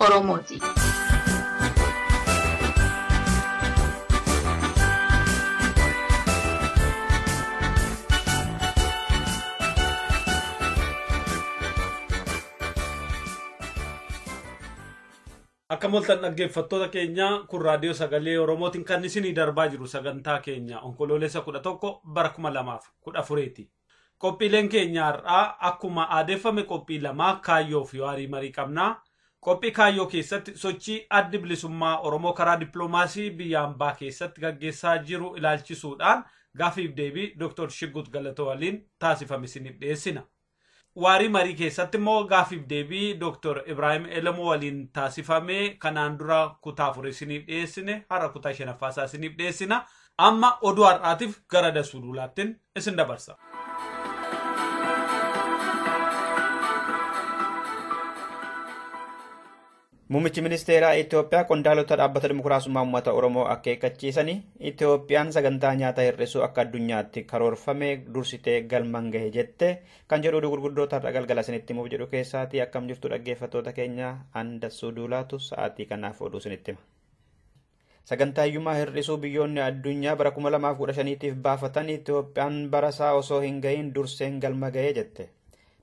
Oromooti. Akka moltan dhaggeeffattoota keenya kun raadiyoo sagalee Oromootiin kan isinii darbaa jiru sagantaa keenya onkoloolessa 11 bara 2014ti. Qophiileen keenya har'aa akkuma aadeffame qophii lama kaayyoo fi waarii marii qabna. Qophii kaayyoo keessatti sochii addi bilisummaa Oromoo karaa dippiloomaasii biyya ambaa keessatti gaggeessaa jiru ilaalchisuudhaan gaafiif deebii Dr. Shiggut Galatoo waliin taasifame isiniif dhiyeessina. Waarii marii keessatti immoo gaafiif deebii Dr. Ibraahim Elemoo waliin taasifame kanaan dura kutaa afur isiniif dhiyeessine har'a kutaa shanaffaa isaa isiniif dhiyeessina. Amma oduu har'aatiif gara Dasuu Duulaattiin isin dabarsa. Muummichi ministeeraa Itoophiyaa qondaalota dhaabbata dimokiraasummaa uummata Oromoo akeekkachiisanii Itoophiyaan sagantaa nyaata hir'isuu akka addunyaatti karoorfame dursitee galmaan gahe jette kan jedhu oduu gurguddoo har'a galgala isinitti himuuf jedhu keessaatii akkam jirtu dhaggeeffattoota keenya Andassuu Duulaatu sa'aatii kanaaf oduu isinitti hima. Sagantaa hiyyummaa hir'isuu biyyoonni addunyaa bara 2015tiif baafatan Itoophiyaan barasaa osoo hin ga'iin durseen galma ga'e jette.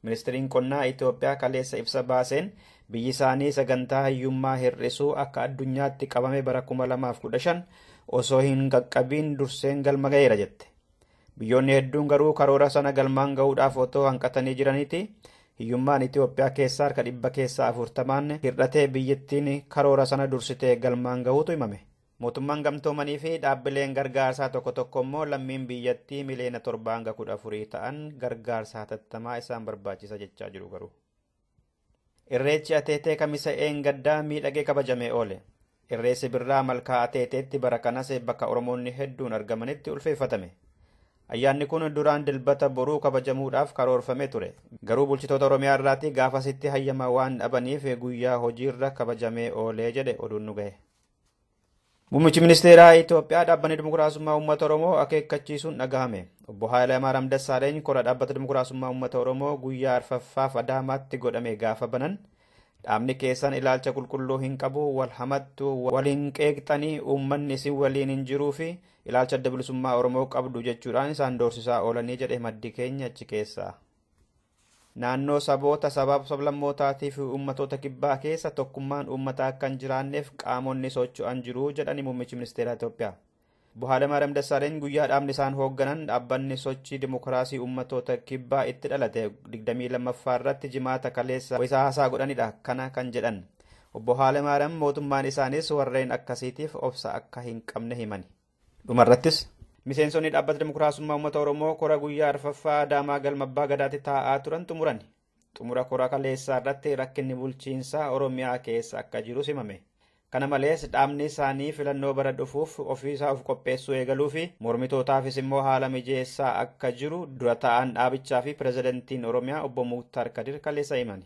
Ministiriin Qonnaa Itoophiyaa kaleessa ibsa baaseen biyyi isaanii sagantaa hiyyummaa hir'isuu akka addunyaatti qabame bara 2015 osoo hin qaqqabiin durseen galma ga'eera jette. Biyyoonni hedduun garuu karoora sana galmaan gahuudhaaf otoo hanqatanii jiraniiti hiyyummaan Itoophiyaa keessaa harka dhibba keessaa afurtamaan hir'atee biyyittiin karoora sana dursitee galmaan gahuutu himame. Mootummaan gamtoomanii fi dhaabbileen gargaarsaa tokko tokko immoo lammiin biyyattii miliyoona torbaa hanga kudha afurii ta'an gargaarsa hatattamaa isaan barbaachisa jechaa jiru garuu. Irreechi Ateetee Kamisa Eengaddaa miidhagee kabajamee oole. Irreessi Birraa Malkaa Ateeteetti bara kanas bakka Oromoonni hedduun argamanitti ulfeeffatame. Ayyaanni kun duraan Dilbata boruu kabajamuudhaaf karoorfamee ture. Garuu bulchitoota Oromiyaa irraati gaafasitti hayyama waan dhabaniif guyyaa hojiirra kabajamee oolee jedhe oduun nu gahe. Muummichi ministeeraa Itoophiyaa dhaabbanni dimokiraasummaa uummata Oromoo akeekkachiisuun dhagahame. Obbo Haayilamaaram Dassaaleny kora dhaabbata dimokiraasummaa uummata Oromoo guyyaa arfaffaaf Adaamaatti godhame gaafa banan dhaabni keessan ilaalcha qulqulluu hin qabu wal hamattu wal hin qeeqxanii uummanni isin waliin hin jiruu fi ilaalcha adda bilisummaa Oromoo qabdu jechuudhaan isaan doorsisaa oolanii jedhe maddi keenya achi keessaa. Naannoo saboota, sabaaf sablammootaa tii fi uummatoota kibbaa keessa tokkummaan uummataa akka hin jiraanneef qaamonni socho'an jiru jedhani muummichi ministeeraa Itoophiyaa. Obbo Haalemaariyaam Dassaaleny guyyaa dhaabni isaan hoogganan dhaabbanni sochii dimokiraasii uummatoota kibbaa itti dhalate 22ffaa irratti jimaata kaleessa wayita haasaa godhanidha kana kan jedhan. Obbo Haalemaariyaam mootummaan isaanis warreen akkasiitiif obsa akka hin qabne himani. Dhumarrattis miseensonni dhaabbata dimokiraasummaa uummata Oromoo kora guyyaa arfaffaa Adaamaa galma abbaa gadaatti taa'aa turan xumurani. Xumura kora kaleessaa irratti rakkinni bulchiinsaa Oromiyaa keessa akka jiru simame. Kana malees dhaabni isaanii filannoo bara dhufuuf ofiisaa of qopheessuu eegaluu fi mormitootaafis immoo haala mijeessaa akka jiru dura taa'aan dhaabichaa fi pirezidantiin Oromiyaa obbo Muktaar Kadir kaleessa himani.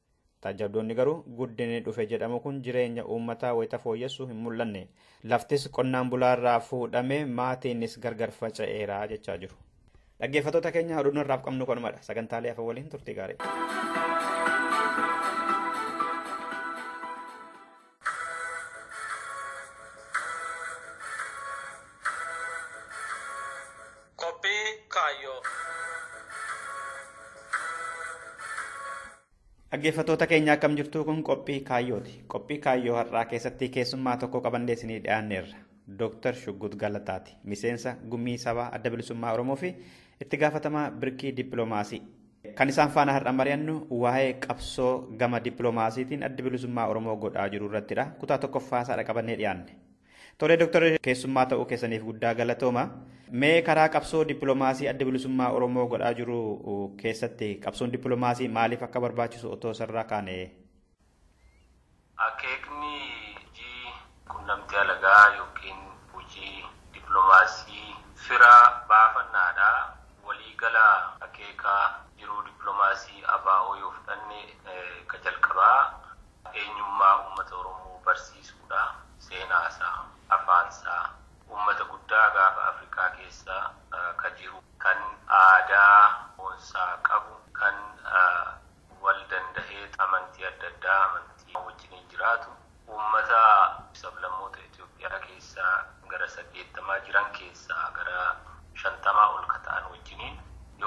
Taajjabdoonni garuu guddinni dhufe jedhamu kun jireenya uummataa wayita fooyyessu hin mul'anne. Laftis qonnaan bulaarraa fuudhame maatiinis gargar faca'eera jechaa jiru. Dhaggeeffattoota keenya oduun har'aaf qabnu kanumadha. Sagantaalee hafa waliin turtii gaarii. Qophii Kaayyoo. Dhaggeeffattoota keenya akkam jirtu kun qophii kaayyooti. Qophii kaayyoo har'aa keessatti keessummaa tokko qabannee isinii dhiyaanneerra. Dooktar Shuggut Galataati. Miseensa gumii sabaa adda bilisummaa Oromoo fi itti gaafatamaa birkii dippiloomaasii. Kan isaan faana har'a mari'annu waa'ee qabsoo gama dippiloomaasiitiin addi bilisummaa Oromoo godhaa jiru irrattidha. Kutaa tokkoffaa isaadha qabannee dhiyaanne. Tolee Dooktar keessummaa ta'uu keessaniif guddaa galatooma. Mee karaa qabsoo dippiloomaasii adda bilisummaa Oromoo godhaa jiru keessatti qabsoon dippiloomaasii maaliif akka barbaachisu otoo isarraa kaane Akeekni hojii qunnamtii alagaa ykn hojii diplomaasii fira baafannaa dha. Walii gala akeeka jiruu diplomaasii ABO yoo fudhanne ka jalqabaa eenyummaa uummata Oromoo barsiisuu dha. Seenaa isaa, afaan isaa, uummata guddaa gaafa Afrikaa keessa ka jiru, kan aadaa boonsaa qabu, kan. wal danda'ee amantii adda addaa amantii wajjiniin jiraatu uummata sablammoota Itoophiyaa keessaa gara saddeettamaa jiran keessaa gara shantamaa ol ka ta'an wajjiniin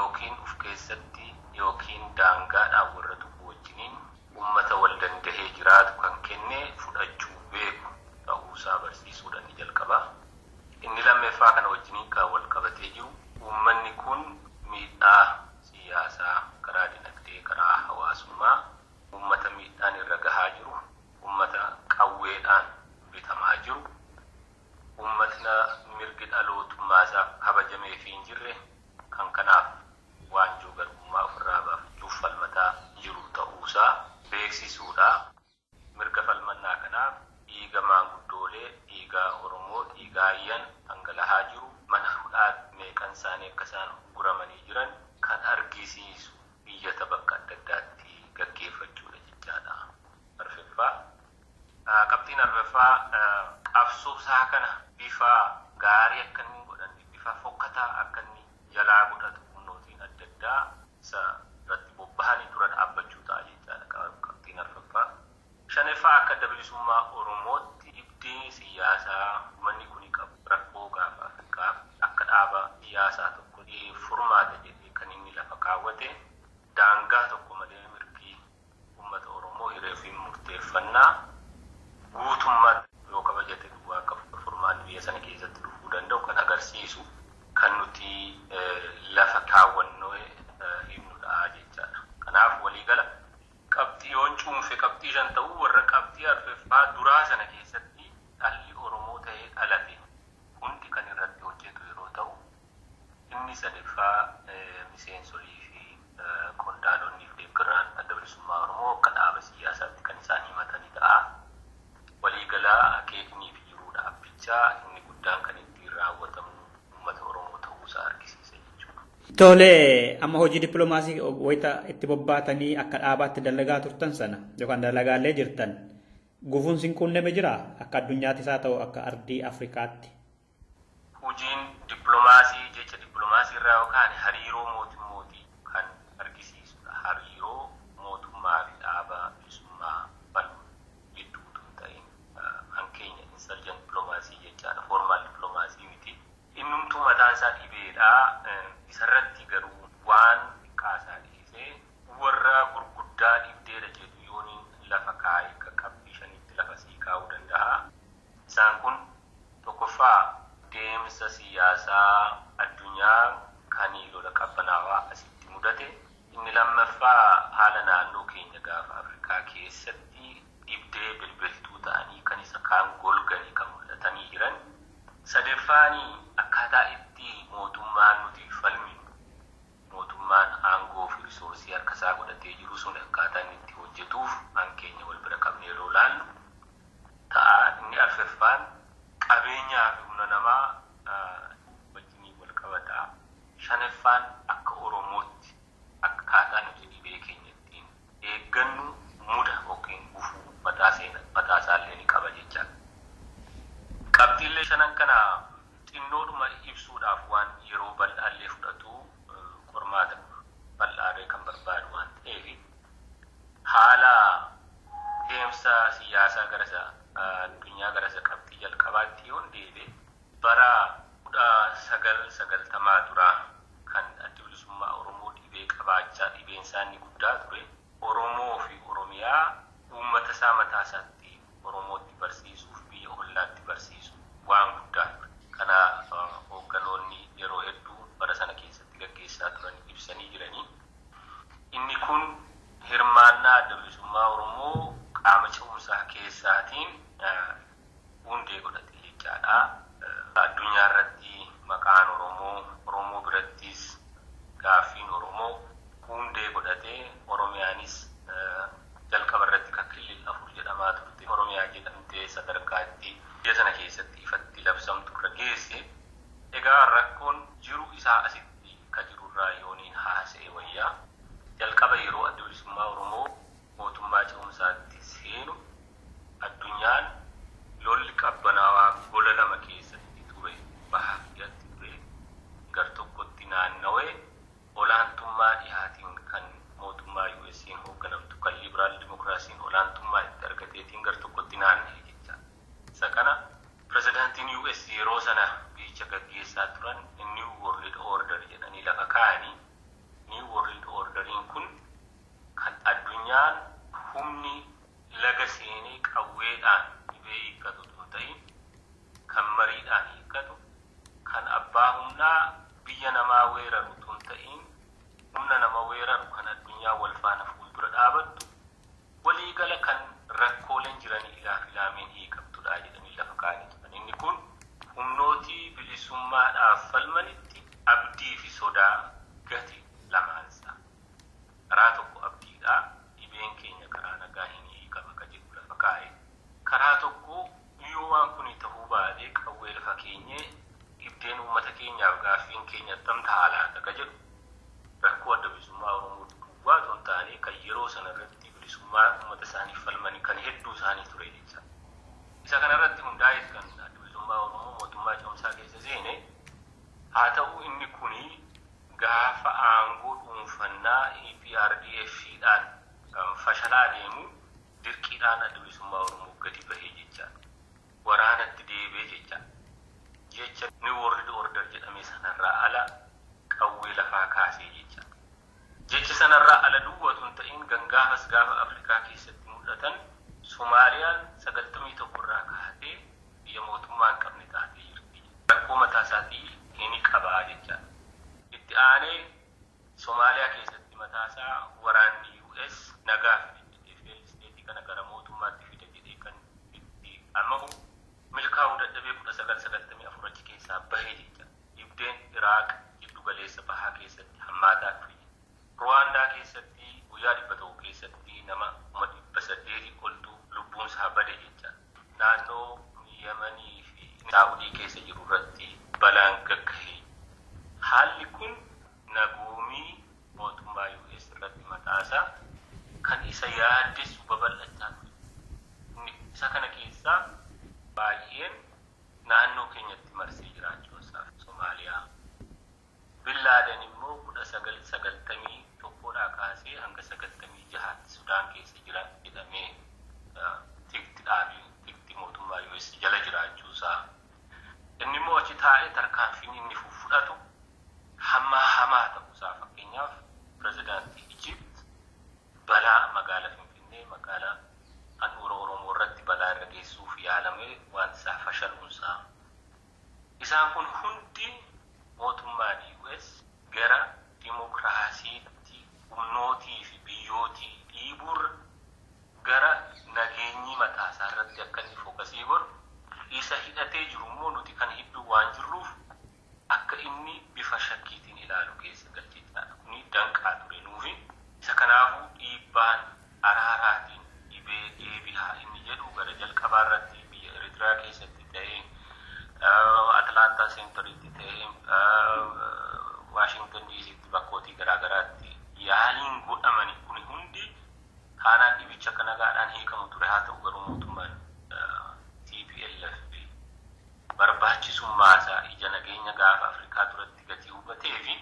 ykn uf keessatti ykn daangaadhaan warra tuqu wajjiniin uummata wal danda'ee jiraatu kan kenne fudhachuu beeku ta'uu isaa barsiisuu dha inni jalqabaa. Inni lammeffaa kana wajjiniin kan wal qabatee jiru uummanni kun miidhaa siyaasaa, karaa dinagdee, karaa hawaasummaa ummata miidhaan irra gahaa jiru, ummata qawweedhaan bitamaa jiru, ummatna mirgi dhalootummaasaa kabajameefii hin jirre kan kanaaf waanjoo garbummaa ofirraa baafachuuf falmataa jiru ta'uusaa beeksisuudha. Mirga falmannaa kanaaf dhiiga maanguddoolee, dhiiga Oromoo, dhiiga Ayyan dhangalahaa jiru, mana hudhaatti meeqan isaanii akka isaan ugguramanii jiran kan argisiisu iyyata bakka adda addaatti gaggeeffachuudha jechaadha. Arfeffaa, Qabxiin arfeffaa qabsoo isaa kana bifa gaarii akka inni hin godhanne, bifa fokkataa akka inni jalaa godhatu humnootiin adda addaa isa irratti bobbahanii dura dhaabbachuu ta'a jechaadha qabxiin arfaffaa. Shaneffaa akka adda bilisummaa Oromootti ibdi siyaasaa ummanni kuni qabu rakkoo gaafa Afrikaaf akka dhaaba siyaasaa tokkotti furmaata jedhee kan inni lafa kaawwate daangaa tokko malee mirgi Ummata Oromoo hiree ofiin murteeffannaa guutummaatti yoo kabajate duwwaa akka furmaanni biyya sana keessatti dhufuu danda'u kan agarsiisu kan nuti lafa kaawwannee himnudha jechaadha. Kanaaf waliigala qabxii yoon cuunfe qabxii shan ta'u warra qabxii arfeffaa duraa sana keessatti dhalli Oromoo ta'ee dhalate hundi kan irratti hojjetu yeroo ta'u Inni sadeeffaa miseensolii fi qondaalonni fi deeggaraan Adda Bilisummaa Oromoo akka dhaaba siyyaasaatti kan isaan himatani ta'a. Walii gala akeeknii fi jiruu dhaabbichaa inni guddaan kan ittiin raawwatamu uummata Oromoo ta'uu isaa argisiisa jechuu dha. Tole, amma hojii dippilomaasii wayita itti bobbaatanii akka dhaabaatti dalagaa turtan sana yookaan dalagaallee jirtan gufuun sin quunname jiraa? Akka addunyaattis haa ta'u akka ardii Afrikaatti. Hujiin diplomaasii jecha diplomaasii irraa yoo kaane hariiroo mootummootii kan argisiisu dha. Hariiroo mootummaa fi dhaaba bilisummaa falmu jidduu utuu hin ta'iin. Kan keenya insurgent diplomacy jechaa dha, formal diplomacy miti. Innumtuu mataan isaa dhibee dha. Isa irratti garuu waan xiqqaa isaa dhiisee warra gurguddaa dhibdee dha jedhu yooniin lafa kaa'e qaqqabbii shanitti lafa sii kaa'uu danda'a. Isaan kun, tokkoffaa, deemsa siyaasaa addunyaa kan lola qabbanaawaa asitti mudate, inni lammaffaa haala naannoo keenya Gaafa Afrikaa keessatti dhibdee bilbiltuu ta'anii kan isa kaan golganii kan mul'atanii jiran, sadeffaan akkaataa itti mootummaan nuti falminu, mootummaan aangoo fi risoorsii harka isaa godhatee jiru sun akkaataa inni itti hojjetuuf an keenya wal bira qabnee yeroo ilaallu, ta'a. Inni arfeffaan qabeenyaa fi humna namaa wajjiniin wal qabata. Shaneffaan akka Oromootti akkaataa nuti dhibee keenya ittiin eeggannu muda ykn gufuu mataa seena mataa isaa illee ni qaba jechaa dha. Qabxiillee shanan kana xinnoodhuma ibsuudhaaf waan yeroo bal'aa illee fudhatu qormaata bal'aa illee kan barbaadu waan ta'eef, Haala deemsa siyyaasaa gara isa addunyaa gara isa qabxii jalqabaatti yoon deebi'e bara 1990 duraa kan Addi Bilisummaa Oromoo dhibee qabaachaa dhibeen isaa inni guddaa ture Oromoo fi Oromiyaa uummata isaa mataa isaatti Oromootti barsiisuuf biyya ollaatti barsiisu waan guddaa ture. Kana hoogganoonni yeroo hedduu bara sana keessatti gaggeessaa turan ibsanii jiranii. Inni kun hirmaannaa Adda Bilisummaa Oromoo qaama ce'umsaa keessaatiin hundee godhate jechaa dha. Addunyaa irratti maqaan Oromoo, Oromoo birattis gaaffiin Oromoo hundee godhate. Oromiyaanis jalqaba irratti kan Killil 4 jedhamaa turte Oromiyaa jedhamtee sadarkaa itti biyya sana keessatti ifatti labsamtu irra geesse. Egaa rakkoon jiru isaa asitti. ka jirurraa yooniin haasaye wayya. Jalqaba yeroo Addi Bilisummaa Oromoo mootummaa ce'umsaatti seenu addunyaan lolli qabbanaawaa gola lama keessatti ture bahaa fi dhihatti ture. Gar tokkotti naannawe olaantummaa dhihaatiin kan mootummaa USAn hoogganamtu kan Liberal Democracy'n olaantummaa itti argateetiin gar tokkotti naannahe jechaadha. Isa kana pirezidaantiin US yeroo sana biyyicha gaggeessaa turan New World Order jedhanii lafa kaa'ani. New World Order'n kun kan addunyaan humni laga seenee qawweedhaan dhibee hiikkatu utuu hin ta'iin kan mariidhaan hiikkatu, kan abbaa humnaa biyya namaa weeraru utuu hin ta'iin humna nama weeraru kan addunyaa wal faana fuuldura dhaabattu Waliigala kan rakkooleen jiran ilaaf ilaameen hiikamtudha jedhanii lafa kaa'anii turan. Inni kun humnooti bilisummaadhaaf falmanitti abdii fi sodaa gate lamaan isaa. Karaa tokko abdiidha, dhibeen keenya karaa nagaahin ni hiikama ka jedhu lafa kaa'e. Karaa tokko yoo waan kuni tahuu baate qawwee lafa keenyee dhibdeen uummata keenyaaf gaaffiin keenya attam taha laata ka jedhu rakkoo Adda Bilisummaa Oromoo duwwaa otoo hin taane kan yeroo sana irratti bilisummaa uummata isaaniif falman kan hedduu isaanii ture jecha. Isa kana irratti hundaa'eet kan Addi Bilisummaa Oromoo mootummaa ce'umsaa keessa seene. Haa ta'uu inni kun gaafa aangoo dhuunfannaa EPRDF dhaan kan fashalaa deemu dirqiidhaan Addi Bilisummaa Oromoo gadi bahe jecha. Waraanatti deebi'e jecha. Jecha New World Order jedhame sanarraa ala qawwee lafaa kaase jecha. Jecha sanarraa ala duwwa otuu hin ta'iin gangaafas gaafa Afrikaa keessatti mul'atan Somaaliyaan 91 irraa kaatee biyya mootummaa hin qabne taatee jirti. Rakkoo mataa isaatii hini qaba jechaa dha. Itti aanee Somaaliyaa keessatti mataa isaa waraanni US nagaa fida jedhee failed state kana gara mootummaatti fida jedhee kan itti amahu milkaa'uu dadhabee 1994 achi keessaa bahe jechaa dha. Dhibdeen Iraaq jiddu galeessa bahaa keessatti hammaataa dhufe. Ruwaandaa keessatti guyyaa 100 keessatti nama kuma 800 oltu lubbuunsaa bade jecha. Naannoo Yemanii fi Saa'udii keessa jiru irratti balaan gaggahe. Haalli kun nagoomii mootummaa US irratti mataasaa kan isa yaaddessu babal'achaa dhufe. Inni isa kana keessaa baay'een naannoo keenyatti marsee jiraachuu isaa fi Somaaliyaa, Bin Laaden immoo 1991 dhaa kaasee hanga 96 tti Sudaan keessa jira jedhamee tikti dhaabiin tikti mootummaa US jala jiraachuu isaa, inni immoo achi taa'ee tarkaanfiin inni fuffudhatu hammaa hamaa ta'uu isaa, fakkeenyaaf Pirezidaantii Egypt Balaa magaala Finfinnee magaalaa handhuura Oromoo irratti balaa irra geessuuf yaalamee waanti isaa fashaluun isaa. Isaan kun hundi mootummaan US gara dimokraasiitti humnootii fi biyyootii dhiibuu irra gara nageenyii mataa isaa irratti akka inni fokasii godhu isa hidhatee jiru immoo nuti kan hidhuu waan jirruuf akka inni bifa shakkiitiin ilaalu keessa galchee jiraata. Kuni danqaa ture nuufi. Isa kanaafuu dhiibbaan araaraatiin dhibee deebihaa inni jedhu gara jalqabaa irratti biyya Eritrea keessatti ta'ee, Atlanta Centeritti ta'ee, Washington DCtti bakkootii garaa garaatti yaaliin godhamani kuni hundi taanaan dhibichi akka nagaadhaan hiikamu ture. Haa ta'u garuu mootummaan tplf fi barbaachisummaasaa ija nageenya Gaafa Afrikaa duratti gatii hubateefi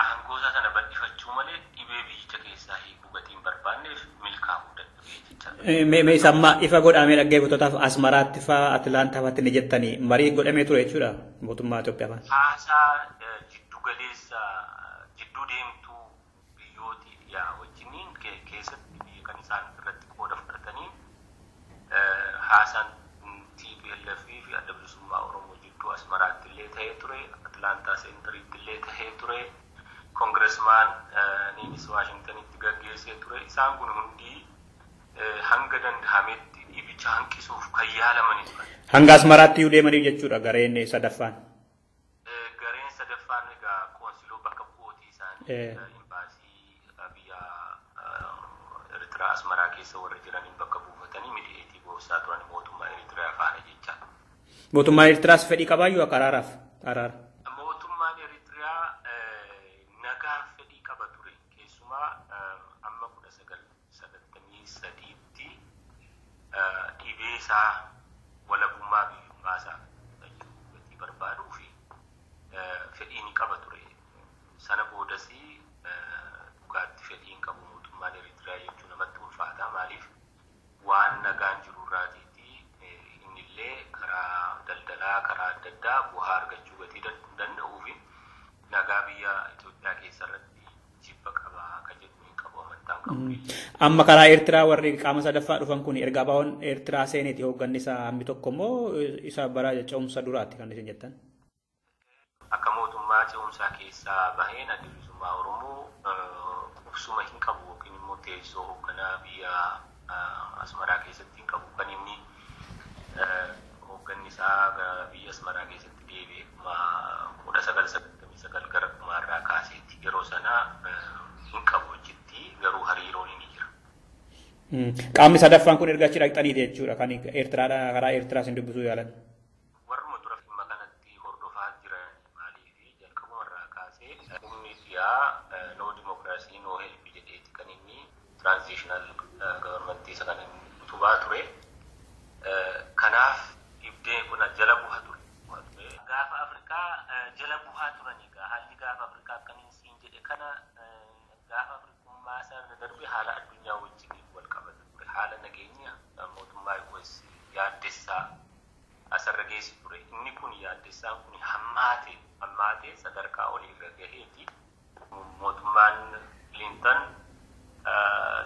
aangoosaa sana bal'ifachuu malee dhibee biyyicha keessaa hiikuu gatii hin barbaanneef milkaa'uu dadhabee jechaa ture. Mee mee isa amma ifa godhamee dhaggeeffattootaaf Asmaraatti faa Atilaantaa faatti ni jettanii marii godhamee ture jechuudha mootummaa Itoophiyaa faa. Haasaa jiddugaleessa jidduu deemtuu biyyooti dhiyaa wajjiniin keessatti biyya kan isaan irratti qooda fudhataniin haasaan tplf fi Adda Bilisummaa Oromoo jidduu Asmaraatti illee ta'ee ture, Atlaantaa Seentariitti illee ta'ee ture, Kongiresmaan niinis Waashingtanitti gaggeessee ture. Isaan kun hundii hanga danda'ametti dhiibicha hanqisuuf kan yaalamani turan. Hanga Asmaraatti iyyuu deemaniiru jechuudha gareen sadaffaan. Gareen sadaffaan egaa qoonsiloo bakka bu'ootii isaanii imbaasii biyya Eritraa Asmaraa keessa warri jiraniin bakka buufatanii midiyeetii goorsaa turan mootummaa Eritraa faana jecha. Mootummaan Eritraas fedhii qabaayyuu akka araaraaf araara. Mootummaan Eritraa nagaaf fedhii qaba ture keessumaa amma kudha sagal 1993tti dhibee isaa walabummaa biyyummaa isaa fayyuu gatii barbaaduu fi fedhii ni qaba ture. Sana boodas dhugaatti fedhii hin qabu mootummaan Eritrea jechuu namatti ulfaata. Maaliif waan nagaan jiru irraatiiti innillee karaa daldalaa karaa adda addaa bu'aa argachuu gatii danda'uu fi Nagaa biyya Itoophiyaa keessa irratti jibba qaba ka jedhu hin qabu amantaan qabu biyya. Amma karaa Eertiraa warri qaama sadaffaa dhufan kun erga abaa'oon Eertiraa seeneeti hoogganni isaa hammi tokko immoo isa bara ce'umsa duraatti kan isin jettan. Akka mootummaa ce'umsaa keessaa baheen addi bilisummaa Oromoo qubsuma hin qabu yookiin immoo teessoo hoogganaa biyya Asmaraa keessatti hin qabu. Kan inni hoogganni isaa gara biyya Asmaraa keessatti deebi'e kuma kudha sagal sagaltamii sagal gara dhumaa irraa kaaseeti. Yeroo sana hin qabu achitti garuu hariiroon inni jira. Qaamni sadaffaan kun erga achi dhaqxaniiti jechuudha kan Eertiraadha karaa Eertiraa isin dubbisuu yaalan. Warruma dura dhimma kanatti hordofaa jiranii maaliif jalqabuma irraa kaasee humni dhiyaa no democracy no help jedheeti kan inni transitional government isa kan inni utubaa ture. Kanaaf dhibdeen kun jala buha ture. Gaafa Afrikaa jala buhaa turan egaa haalli gaafa Afrikaa akkaniin siin jedhe kana gaafa Afrikummaa sana darbe haala addunyaa wajjin wal qabata ture. Haala nageenya mootummaa US yaaddessaa asarra geessi ture. Inni kun yaaddessaan kun hammaate hammaatee sadarkaa olii irra gaheeti. Mootummaan Clinton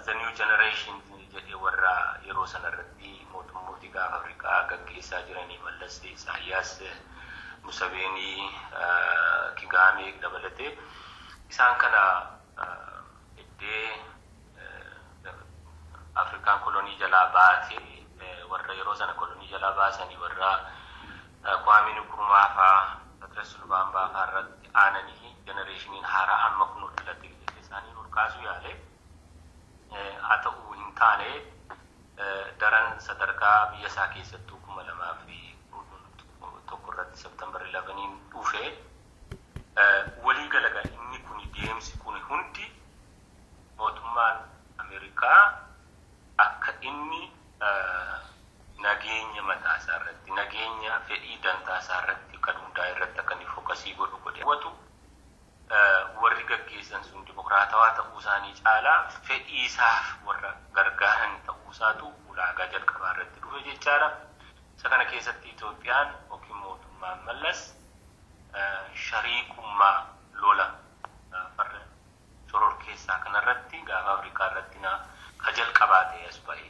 the new generation jedhee warra yeroo sana irratti mootummooti gaafa Afrikaa gaggeessaa jiranii Mallas, Isaayyaas, Museveenii, Kigaamee dabalatee isaan kana eddee Afrikaan kolonii jalaa baate warra yeroo sana kolonii jalaa baasanii warra Kwaamee Nikurumaa faa Patiras Lubaambaa faa irratti aananii jenereeshiniin haaraa amma kunoo dhalatee ijoollee isaanii ol kaasuu yaale. Haa ta'uu hin taane daran sadarkaa biyya isaa keessattuu 2011 irratti September 11n dhufe walii galaga inni kuni deemsi kuni hundi Mootummaan Ameerikaa akka inni nageenya mataa isaa irratti, nageenya fedhii dantaa isaa irratti kan hundaa'e irratti akka inni fokasii godhu godhee hawwatu, warri gaggeessan sun dimokiraatawaa ta'uu isaanii caalaa fedhii isaaf warra gargaaran ta'uu isaatu ulaagaa jalqabaa irratti dhufe jechaa dha. Isa kana keessatti Itoophiyaan yookiin mootummaan Mallas shariikummaa lola farra shororkeessaa kanarratti gaafa Afrikaa irratti na ka jalqabaa ta'e as ba'e.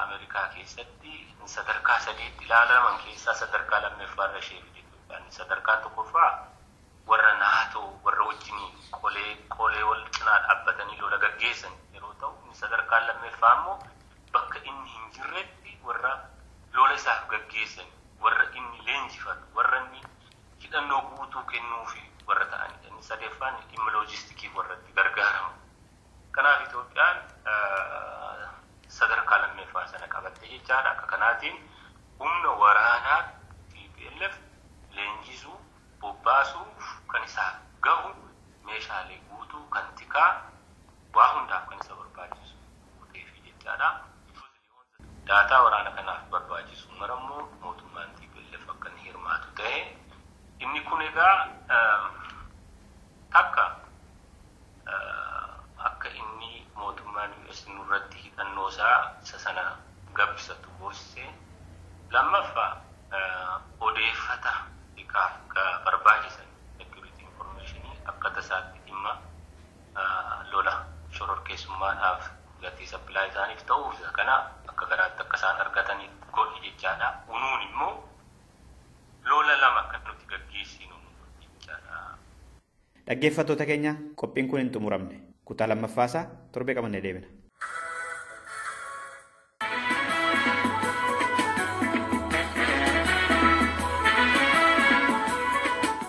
Amerikaa keessatti sadarkaa sadiitti ilaalaman keessaa sadarkaa lammeffaa irra ishee fide Itoophiyaan. Sadarkaan tokkoffaa warra NATO warra wajjiniin qolee qolee wal cinaa dhaabbatanii lola gaggeessan yeroo ta'u inni sadarkaan lammeffaa immoo bakka inni hin jirretti warra lola isaaf gaggeessan warra inni leenjifatu warra inni hidhannoo guutuu kennuufi warra ta'anidha. Inni sadeeffaan dhimma loojistikiif warra itti gargaaramu. Kanaaf Itoophiyaan sadarkaa lammeeffaa sana qabatte jechaadha. Akka kanaatiin humna waraanaa tplf leenjisuu, bobbaasuuf kan isaaf gahu meeshaalee guutuu, kan tikaa, waa hundaaf kan isa barbaachisu guuteefi jechaadha. Daataa waraana kanaaf barbaachisu mara immoo mootummaan tplf akka inni hirmaatu tahe. Inni kun egaa takka akka inni mootummaan US nurratti hidhannoo isaa isa sana gabbisatu goosise. Lammaffa odeeffata xiqqaaf barbaachisan security information akka tasaatti dhimma lola shororkeessummaadhaaf gatii sappilaayii isaaniif ta'uuf isa kana akka garaatti akka isaan argataniif godhi jechaadha. Unuun immoo lola lama akka nuti gaggeessinu nu godhi jechaadha. Dhaggeeffattoota keenya qophiin kun hin xumuramne. Kutaa lammaffaa isaa torbee qabannee deebina.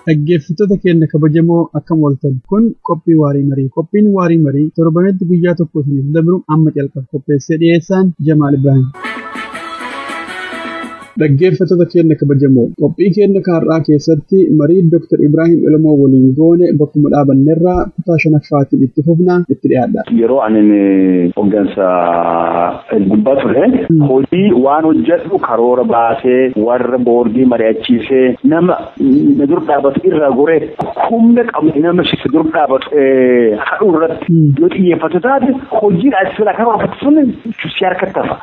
Dhaggeeffattoota keenya kabajamoo akkam ooltan kun qophii waarii marii qophiin waarii marii torbanitti guyyaa tokko isiniif dabru amma calqaba qopheessee dhiyeessaan Jamaal Ibrahim. Dhaggeeffattoota keenya kabajamoo qophii keenya kaarraa keessatti marii Dr. Ibraahim Ilmoo waliin goone bakkuma dhaabannerraa kutaa shanaffaatiin itti fufna itti dhiyaadha. Yeroo ani hoggansa gubbaa ture hojii waan hojjedhu karoora baasee warra boordii mari'achiisee nama na dur dhaabatu irraa goree humna qabne nama si dur dhaabatu hadhuu irratti yoo xiyyeeffatu taate hojiin ati sila kan hojjetu sun si harkatti hafa.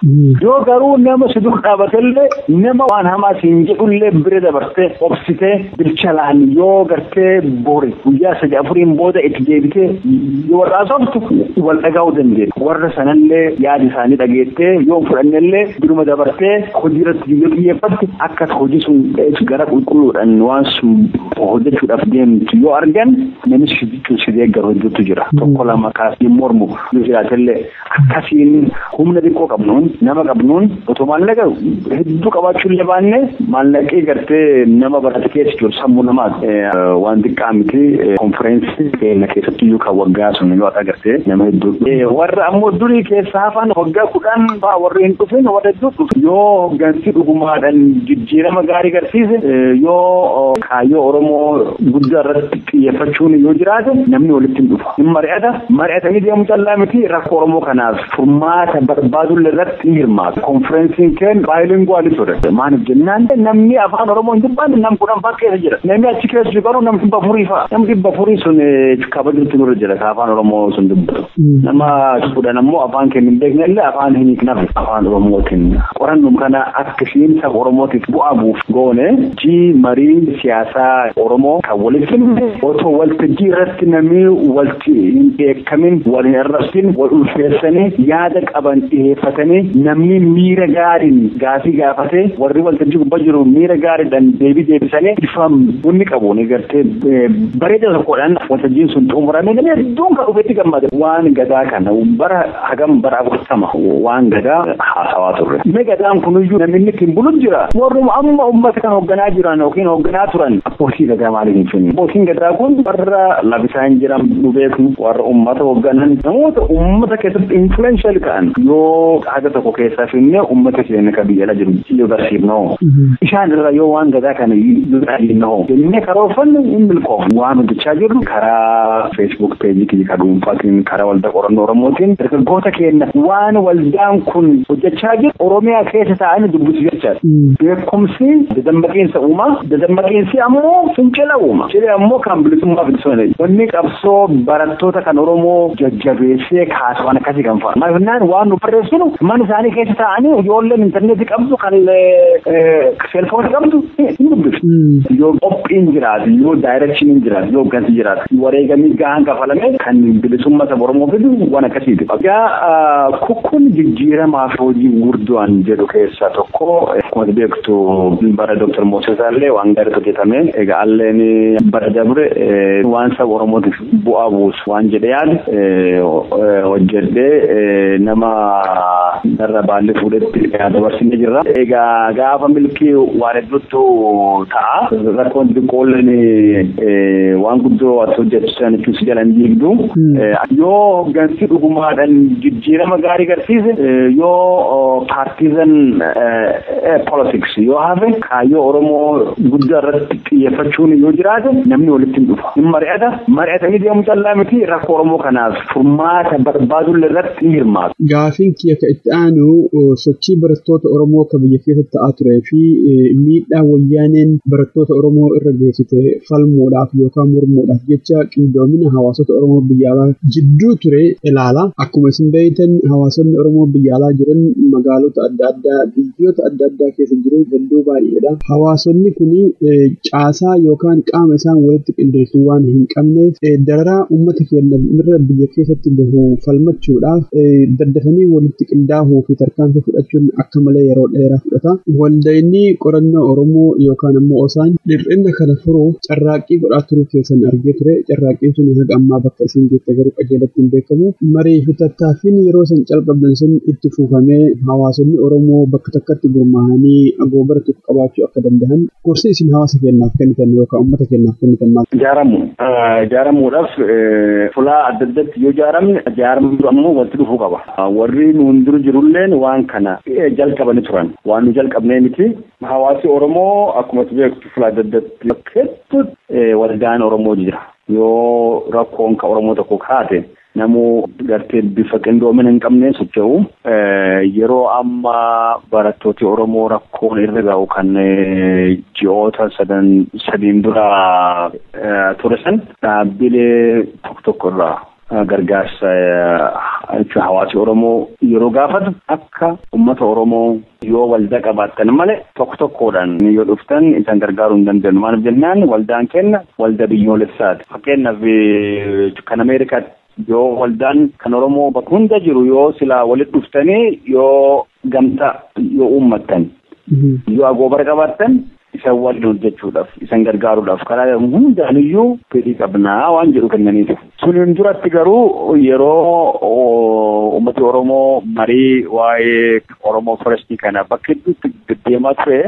Yoo garuu nama si dur dhaabatellee nama waan hamaa siin jedhullee bira dabartee obsitee bilchalaan yoo gartee bori guyyaa sadii afuriin booda itti deebitee yoo warra asoftu wal dhagaa'uu dandeenya. Warra sanallee yaada isaanii dhageettee yoo fudhannellee duruma dabartee hojii irratti yoo xiyyeeffatte akka hojii sun gara qulqulluudhaan waan sun hojjechuudhaaf deemtu yoo argan namni si jechuun si deeggaru hedduutu jira. Tokko lama kaasee mormu yoo jiraatellee Akkasiin humna xiqqoo qabnuun nama qabnuun otoo maallaqa hedduu qabaachuu illee baanne maallaqee gartee nama barate keessa jiru sammuu namaa waan xiqqaa miti konfereensii keenya keessatti iyyuu kan waggaa sun yoo ta'e gartee nama hedduu warra ammoo durii keessa hafan waggaa kudhan fa'aa warri hin dhufin warra hedduu dhufu yoo hooggansi dhugumaadhaan jijjiirama gaarii garsiise yoo kaayyoo Oromoo guddaa irratti xiyyeeffachuun yoo jiraate namni walitti hin dhufa. Hin mari'ata. Mari'atanii deemu callaa miti rakkoo Oromoo kanaaf furmaata barbaadullee irratti hin hirmaatu. Konfireensiin keen baayilinguwaalii ture. Maaliif jennaan namni afaan Oromoo hin dubbanne nam kudhan fa'aa keessa jira. Namni achi keessa jiru garuu nam dhibba afurii fa'a. Nam dhibba afurii sun kabajuutti nurra jira ka afaan Oromoo sun dubbatu. Nama kudhan ammoo afaan keenya hin beekne illee afaan hin hiiknaaf afaan Oromootiin. Qorannum kana akka Isiin saba Oromootiif bu'aa buuf goone G Marii siyaasaa Oromoo kan walitti fidne otoo waltajjii irratti namni walti hin dheekkamin, wal hin arrabsin, wal ulfeessanii yaada qaban dhiheeffatanii namni miira gaariin gaafii gaafatee warri waltajjii gubbaa jiru miira gaariidhaan deebii deebisanii bifa bunni qabuun gartee bareeda tokkodhaan waltajjiin sun xumuramee namni hedduun kan dhufetti gammade waan gadaa kana bara hagam bara afurtama waan gadaa haasawaa turre. Me gadaan kuniyyuu namni inni ittiin bulu jira. Warruma amma uummata kan hoogganaa jiran yookiin hoogganaa turan abbootii gadaa maaliif hin finne? Abbootiin gadaa kun warra labisaa hin jiran nu beeknu warra uummata hoogganan namoota uummata keessatti influential ta'an yoo haga tokko keessaa finne uummata keenya kan biyya ala jiru yoo barsiifnoo. Isaan irra yoo waan gadaa kana yoo dhaabinna hoo jennee karoorfannu hin milkoofnu. Waan hojjechaa jirru karaa Facebook page kiyya ka dhuunfaatiin karaa waldaa qorannoo Oromootiin dargaggoota keenya waan waldaan kun hojjechaa jiru Oromiyaa keessa taa'anii dubbisu jechaadha. Beekumsi dadammaqiinsa uuma. Dadammaqiinsi ammoo fincila uuma. Fincilli ammoo kan bilisummaa fincilsoone. Wanni qabsoo barattoota kan Oromoo jajjabeessee kaasu waan akkasii kan fa'a. Maaliifnaan waan nu barreessinu mana isaanii keessa taa'anii ijoolleen intarneetii qabdu kan Selfoon qabdu hin dubbiftu. Yoo qophiin jiraatu, yoo daayirekshiniin jiraatu, yoo gansi jiraatu, wareegamni gahaan kafalame kan bilisummaa saba Oromoo fidu waan akkasiiti. Egaa kun jijjiiramaa fi hojii gurguddaan jedhu keessaa tokko akkuma beektu bara Dooktar Moosesaa illee waan gaariitu hojjetame. Egaa alleen bara dabre waan saba Oromootiif bu'aa buusu waan jedhe yaade hojjedhee nama narra baalli fuudhetti dabarsine jirra. Egaa gaafa milkii waan hedduutu ta'a. Rakkoon xiqqoolleen waan guddoo as hojjechiisan jechuun si jalan diigdu. Yoo hoggansi dhugumaadhaan jijjiirama gaarii garsiise yoo paartiizan politics yoo hafe kaayyoo Oromoo guddaa irratti xiyyeeffachuun yoo jiraate namni walitti hin dhufa. Hin mari'ata. Mari'atanii deemu callaa miti rakkoo Oromoo kanaaf furmaata barbaaduun irratti hin hirmaatu. Gaafiin kiyya ka itti aanu sochii barattoota Oromoo ka biyya keessatti ta'aa turee fi miidhaa wayyaaneen barattoota Oromoo irra geessite falmuudhaaf yookaan mormuudhaaf jecha qindoomina hawaasota Oromoo biyya alaa jidduu ture ilaala. Akkuma isin beektan hawaasonni Oromoo biyya alaa jiran magaalota adda addaa biyyoota adda addaa keessa jiru hedduu baay'eedha. Hawaasonni kun caasaa yookaan qaama isaan walitti qindeessu waan hin qabneef dararaa uummata keenya irra biyya keessatti gahu falmachuudhaaf daddafanii walitti qindaa'uu fi tarkaanfii fudhachuun akka malee yeroo dheeraa fudhata. Waldayni qorannoo Oromoo yookaan ammoo osaan dhir'inna kana furuuf carraaqqii godhaa turuu keessan argee ture. Carraaqqiin sun haga ammaa bakka isin geette garuu qajeelatti hin beekamu. Marii fi tattaaffiin yeroo san calqabdan sun itti fufamee hawaasonni Oromoo bakka bakka takkatti gurmaahanii agoobara tokko qabaachuu akka danda'an gorsa isin hawaasa keenyaaf kennitan yookaan uummata keenyaaf kennitan maal? Jaaramu. Jaaramuudhaaf fulaa adda addatti yoo jaaramne jaarmni ammoo walitti dhufuu qaba. Warri nuun dura jirulleen waan kana jalqabanii turan. Waan nu jalqabnee miti. Hawaasi Oromoo akkuma itti beektu fulaa adda addatti hedduutti waldaan Oromoo jira. Yoo rakkoon ka Oromoo tokko kaate Namuu gartee bifa qindoomina hin qabneen socho'u. Yeroo amma barattooti Oromoo rakkoon irra ga'u kan ji'oota sadan sadiin dura ture san dhaabbilee tokko tokko irraa gargaarsa jechuun hawaasi Oromoo yeroo gaafatu akka uummata Oromoo Yoo waldaa qabaattan malee tokko tokkoodhaan yoo dhuftan isan gargaaruu hin dandeenyu. Maaliif jennaan waldaan keenna waldaa biyyoolessaati. Fakkeenyaaf kan Ameerikaatti yoo waldaan kan Oromoo bakka hunda jiru yoo silaa walitti dhuftanii yoo gamtaa yoo uummattan yoo agoobara qabaattan isan waliin hojjechuudhaaf isan gargaaruudhaaf karaa hundaanuyyuu fedhii qabnaa waan jedhu kennaniitu. Suniin duratti garuu yeroo uummati Oromoo marii waa'ee Oromoo Forestii kana bakka hedduutti deddeemaa ture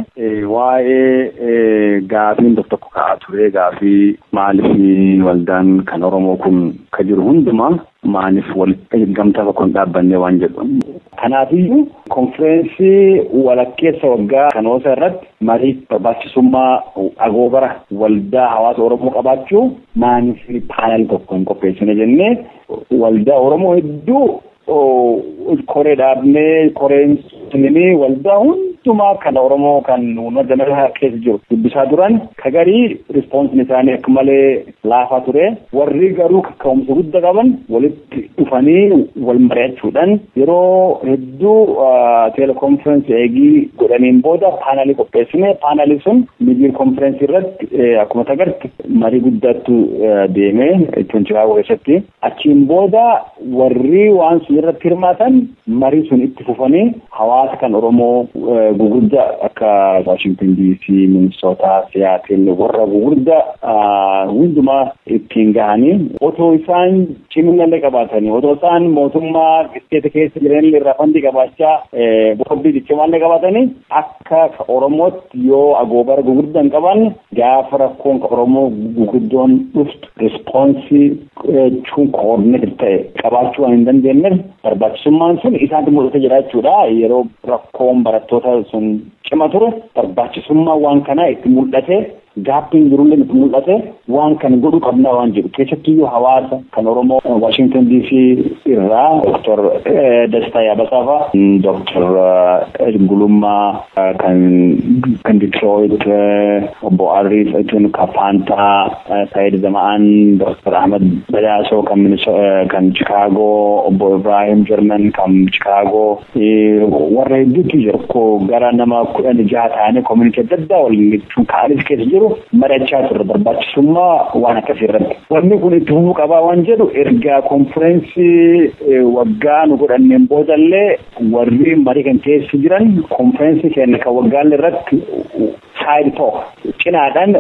waa'ee gaafiin tokko tokko ka'aa ture gaafii maaliif waldaan kan Oromoo kun ka jiru hundumaa maaliif walitti gamtaa tokko hin dhaabbanne waan jedhu. Kanaafiyyuu konfireensii walakkeessa waggaa Kanoosa irratti marii barbaachisummaa agoobara waldaa hawaasa Oromoo qabaachuu maaniif paanel tokko hin qopheessine jennee waldaa Oromoo hedduu koree dhaabnee koreen sunimee waldaa hundumaa kan Oromoo kan uummata nagaa keessa jiru dubbisaa turan kagarii rispoonsiin isaanii akka malee laafaa ture. Warri garuu kaka'umsa gudda qaban walitti dhufanii wal mari'achuudhaan yeroo hedduu telekonferensii eegii godhaniin booda paanaalii qopheessine paanaalii sun midiir konferensii irratti akkuma tagarti marii guddaattu deeme jechuun chicaagoo keessatti. Achiin booda warri waan sun irratti hirmaatan marii sun itti fufanii hawaasa kan Oromoo gugurdaa akka Waashington DC, Minnesota, Seattle warra gugurdaa hundumaa ittiin gahanii otoo isaan ciminallee qabaatanii otoo isaan mootummaa isteeta keessa jiranillee irraa fandii qabaachaa boordii ciccimaallee qabaatanii Akka ka Oromootti yoo agoobara gugurdaa hin qabaanne gaafa rakkoon ka Oromoo guguddoon dhuftu respoonsii jechuun koordinetid ta'e qabaachuu waan hin dandeenyeef barbaachisummaan sun isaanti mul'ata jira jechuudha. Yeroo rakkoon barattoota sun cima ture barbaachisummaan waan kanaa itti mul'ate. Gaappiin jirullee nutti mul'atee waan kana godhuu qabnaa waan jedhu keessattuyyuu hawaasa kan Oromoo Waashington DC irraa Dr. Dastaa Yaabasaa fa'a Dr. Gulummaa kan kan Detroit obbo Arrii jechuun kan Faantaa Saayid Zama'aan Dr. Ahmad Badaasoo kan kan Chicaagoo obbo Ibrahim German kan Chicaagoo warra hedduutu jiru ko gara nama kudhan jaha taane koominitii adda addaa waliin jechuun ka'anis keessa jiru mari'achaa turre barbaachisummaa waan akkasii irratti. Wanni kun itti humuu qabaa waan jedhu erga konfireensii waggaa nu godhanneen boodallee warri marii kan keessa jiran konfireensii keenya kan waggaallee irratti side talk cinaadhaan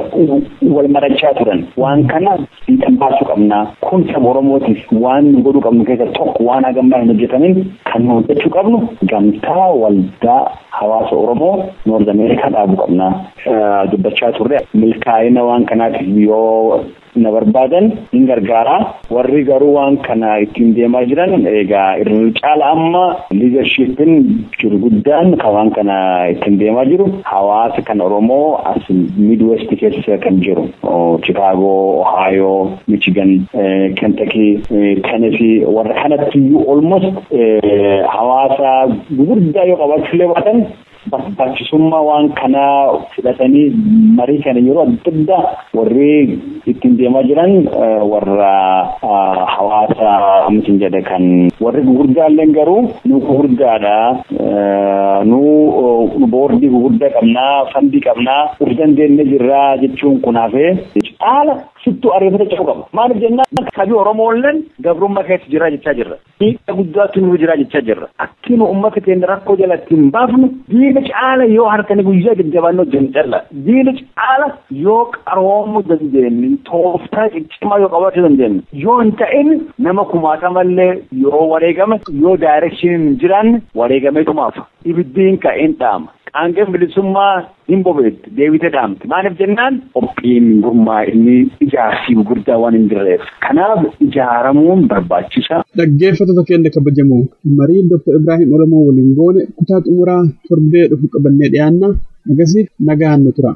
wal marachaa turan waan kana fiixan baasuu qabna kun saba oromootiif waan nu godhuu qabnu keessa tokko waan hagammaa hin hojjetamin kan nu hojjechuu qabnu gamtaa waldaa hawaasa oromoo noord ameerikaa dhaabuu qabna dubbachaa turre milkaa'ina waan kanaatiif yoo na barbaadan hin gargaara warri garuu waan kana ittiin deemaa jiran egaa irra caala amma liidarshiippiin jiru guddaan kan waan kana ittiin deemaa jiru hawaasa kan oromoo as midwest keessa kan jiru chikaagoo ohaayoo michigan kentakii tenesii warra kanatti iyyuu olmost hawaasa guguddaa yoo qabaachuullee baatan Barbaachisummaa waan kanaa fudhatanii marii kana yeroo adda addaa warri ittiin deemaa jiran warra hawaasa mitiin jedhe kan warri gurguddaalleen garuu nu gurguddaadha nu boordii gurguddaa qabnaa fandii qabnaa of dandeenye jirraa jechuun kun hafee caala sittuu ariifata ce'uu qaba. Maaliif jennaan sabi Oromoolleen gabrummaa keessa jira jechaa jirra. Miidhaa guddaatu nurra jira jechaa jirra. Akkuma uummata keenya rakkoo jala ittiin baafnu diina caala yoo halkanii guyyaa jajjabaannee hojjennu calla. Diina caala yoo qaroomuu dandeenyu, tooftaa ciccimaa yoo qabaachuu dandeenyu, yoo hin ta'in nama kumaatamallee yoo wareegame, yoo daayireekshiniin hin jiraanne wareegameetuma hafa. Ibiddi hin ka'a, hin dhaama. Qaangeen bilisummaa Hin bobeetti, deebitee dhaamti. Maaliif jennaan qophiin, gurmaa'inni, ijaarsi gurguddaa waan hin jirreef. Kanaaf ijaaramuun barbaachisaa. Dhaggeeffattoota keenya kabajamoo, marii Dr. Ibraahim Oromoo waliin goone kutaa xumuraa torbee dhufu qabannee dhiyaanna. Hagasiif nagaan nu tura.